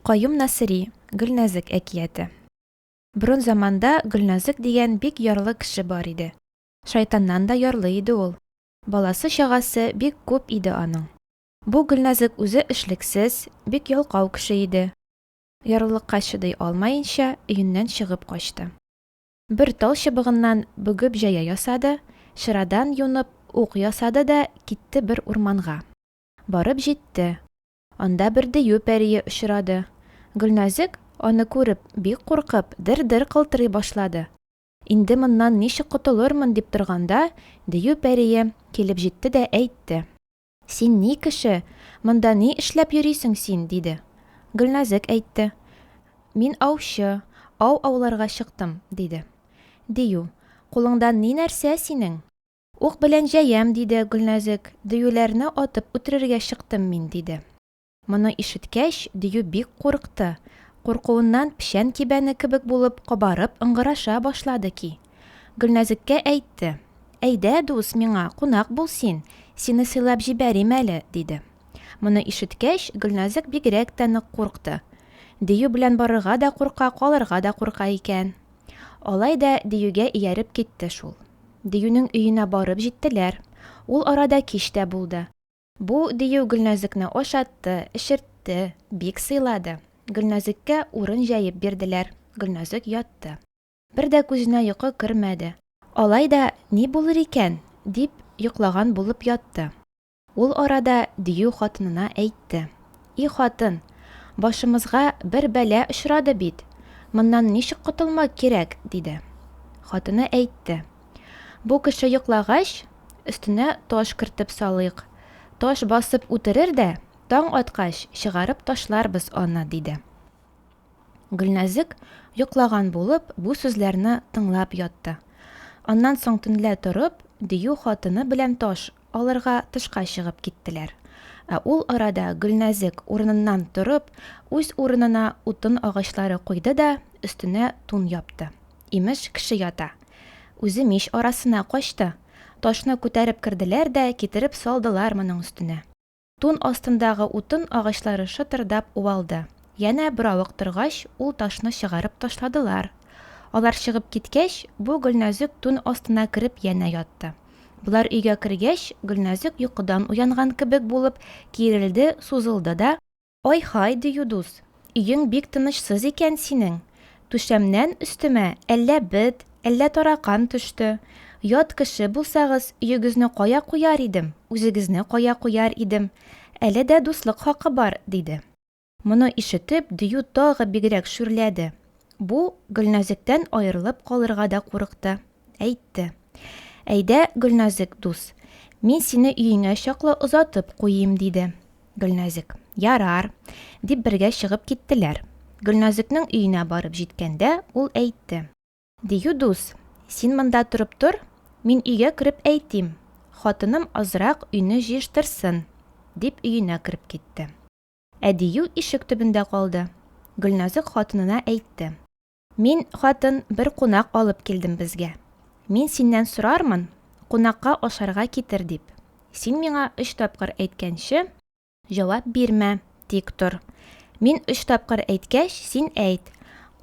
Каюм Насыйри, Гөлнәзек әкияте. Борын заманда Гөлнәзек дигән бик ярлы кеше бар иде. Шайтаннан да ярлы иде ул. Баласы-чагасы бик күп иде аның. Бу Гөлнәзек үзе эшлексез, бик ялкау кеше иде. Ярлылыкка чыдый алмаенча, өеннән чыгып качты. Бер тал чыбыгыннан бөгеп җая ясады, чырадан юнып, ук ясады да китте бер урманга. Барып җитте. Анда бер дию пәрие очрады. Гөлназек, аны күреп, бик куркып, дер-дер кылтырый башлады. Инде моннан ничек котылырмын дип торганда, дию пәрие килеп җитте дә әйтте. Син ни кеше, монда ни эшләп йөрисең син? диде. Гөлназек әйтте. Мин аучы, ау ауларга чыктым, диде. Дию, кулыңдан ни нәрсә синең? Ук белән җәям, диде Гөлназек, Дөюләрне атып үтерергә чыктым мин, диде. Моны ишеткәч, Дию бик курыкты. Куркуыннан печән кибәне кебек булып кабарып ыңгыраша башлады ки. Гөлназеккә әйтте, Әйдә, дус, миңа кунак бул син, сине сыйлап җибәрим әле, диде. Моны ишеткәч, Гөлназек бигрәк тә нык курыкты. Дию белән барырга да курка, калырга да курка икән. Алай да Диюгә ияреп китте шул. Диюнең өенә барып җиттеләр. Ул арада кич тә булды. Бу Дию Гөлназыкны ашатты, эчертте, бик сыйлады. Гөлназыккә урын җәеп бирделәр, Гөлназык ятты. Бер дә күзенә йокы кермәде. Алай да ни булыр икән, дип йоклаган булып ятты. Ул арада дию хатынына әйтте, И хатын, башымызга бер бәла очрады бит, моннан ничек котылмак кирәк? диде. Хатыны әйтте, Бу кеше йоклагач, өстенә таш кертеп салыйк, таш басып үтерер дә, таң аткач, чыгарып ташларбыз аны, диде. Гөлнәзек, йоклаган булып, бу сүзләрне тыңлап ятты. Аннан соң төнлә торып, дию хатыны белән таш алырга тышка чыгып киттеләр. Ә ул арада Гөлнәзек, урыныннан торып, үз урынына утын агачлары куйды да өстенә тун япты. Имеш, кеше ята. Үзе мич арасына качты. Ташны күтәреп керделәр дә китереп салдылар моның өстенә. Тун астындагы утын агачлары шытырдап уалды. Янә беравык торгач, ул ташны чыгарып ташладылар. Алар чыгып киткәч, бу Гөлназек тун астына кереп янә ятты. Болар өйгә кергәч, Гөлназек йокыдан уянган кебек булып киерелде, сузылды да. Ай-һай, дию дус, Өең бик тынычсыз икән синең. Түшәмнән өстемә әллә бет, әллә таракан төште. Ят кеше булсагыз, өегезне кая куяр идем, үзегезне кая куяр идем. Әле дә дуслык хакы бар, диде. Моны ишетеп, Дию тагы бигрәк шүрләде. Бу Гөлназектән аерылып калырга да курыкты. Әйтте. Әйдә, Гөлназек дус, мин сине өеңә чаклы озатып куйыйм, диде. Гөлназек, Ярар, дип бергә чыгып киттеләр. Гөлназекнең өенә барып җиткәндә, ул әйтте. Дию дус, син монда торып тор, мин өйгә кереп әйтим, хатыным азрак өйне җыештырсын, дип өенә кереп китте. Ә Дию ишек төбендә калды. Гөлназек хатынына әйтте. Мин, хатын, бер кунак алып килдем безгә. Мин синнән сорармын, кунакка ашарга китер дип. Син миңа өч тапкыр әйткәнче, җавап бирмә, тик тор. Мин өч тапкыр әйткәч, син әйт,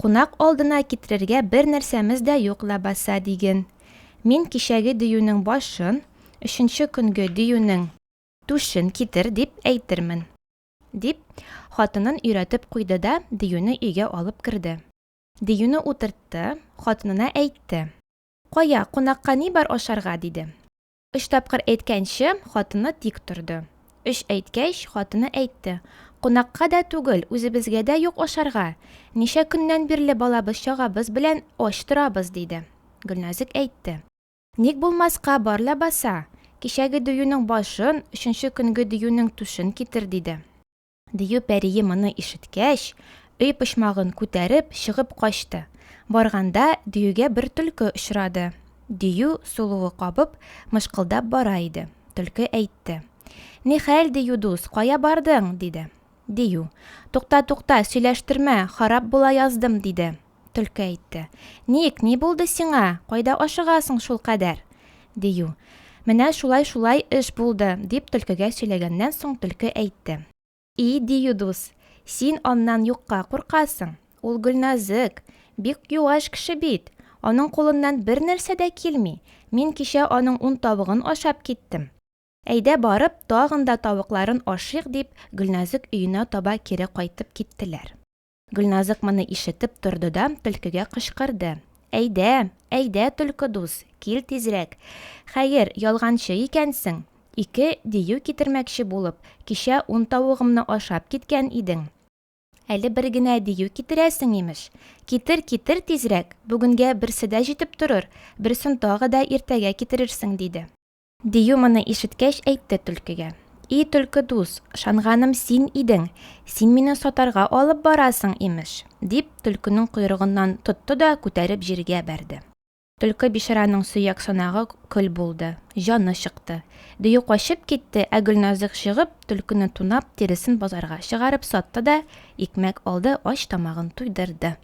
Кунак алдына китерергә бер нәрсәмез дә юк ләбаса, диген. Мин кичәге диюнең башын, өченче көнге диюнең түшен китер дип әйтермен. Дип, хатынын өйрәтеп куйды да, Диюне өйгә алып керде. Диюне утыртты, хатынына әйтте. Кая, кунакка ни бар ашарга, диде. Өч тапкыр әйткәнче, хатыны тик торды. Өч әйткәч, хатыны әйтте. Кунакка да түгел, үзебезгә дә юк ашарга. Ничә көннән бирле балабыз-чагабыз белән ач торабыз, диде. Гөлназик әйтте. Ник булмаска, бар ләбаса! Кичәге диюнең башын, өченче көнге диюнең түшен китер, диде. Дию пәрие моны ишеткәч, өй почмагын күтәреп, чыгып качты. Барганда, диюгә бер төлке очрады. Дию, сулуы кабып, мышкылдап бара иде. Төлке әйтте. Нихәл, дию дус, кая бардың? диде. Дию. Тукта, тукта, сөйләштермә, харап була яздым, диде. Төлке әйтте. Ник, ни булды сиңа? Кайда ашыгасың шул кадәр? дию. Менә шулай-шулай эш булды, дип төлкегә сөйләгәннән соң төлке әйтте. И, дию дус, син аннан юкка куркасың. Ул Гөлназык, бик юаш кеше бит. Аның кулыннан бер нәрсә дә килми. Мин кичә аның ун тавыгын ашап киттем. Әйдә барып, тагын да тавыкларын ашыйк, дип, Гөлназык өенә таба кире кайтып киттеләр. Гөлназык моны ишетеп торды да төлкегә кычкырды. Әйдә, әйдә, төлке дус, кил тизрәк. Хәер, ялганчы икәнсең. Ике дию китермәкче булып, кичә ун тавыгымны ашап киткән идең. Әле бер генә дию китерәсең, имеш. Китер, китер тизрәк, бүгенгә берсе дә җитеп торыр, берсен тагы да иртәгә китерерсең, диде. Дию моны ишеткәч, әйтте Төлкегә. И Төлке дус, шанганым син идең, син мине сатарга алып барасың, имеш, дип, Төлкенең койрыгыннан тотты да күтәреп җиргә бәрде. Төлке бичараның сөяк санагы көл булды, җаны чыкты. Дию качып китте, ә Гөлназык чыгып, Төлкене тунап, тиресен базарга чыгарып сатты да, икмәк алды, ач тамагын туйдырды.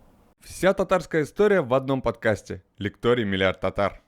Вся татарская история в одном подкасте. Лекторий Миллиард Татар.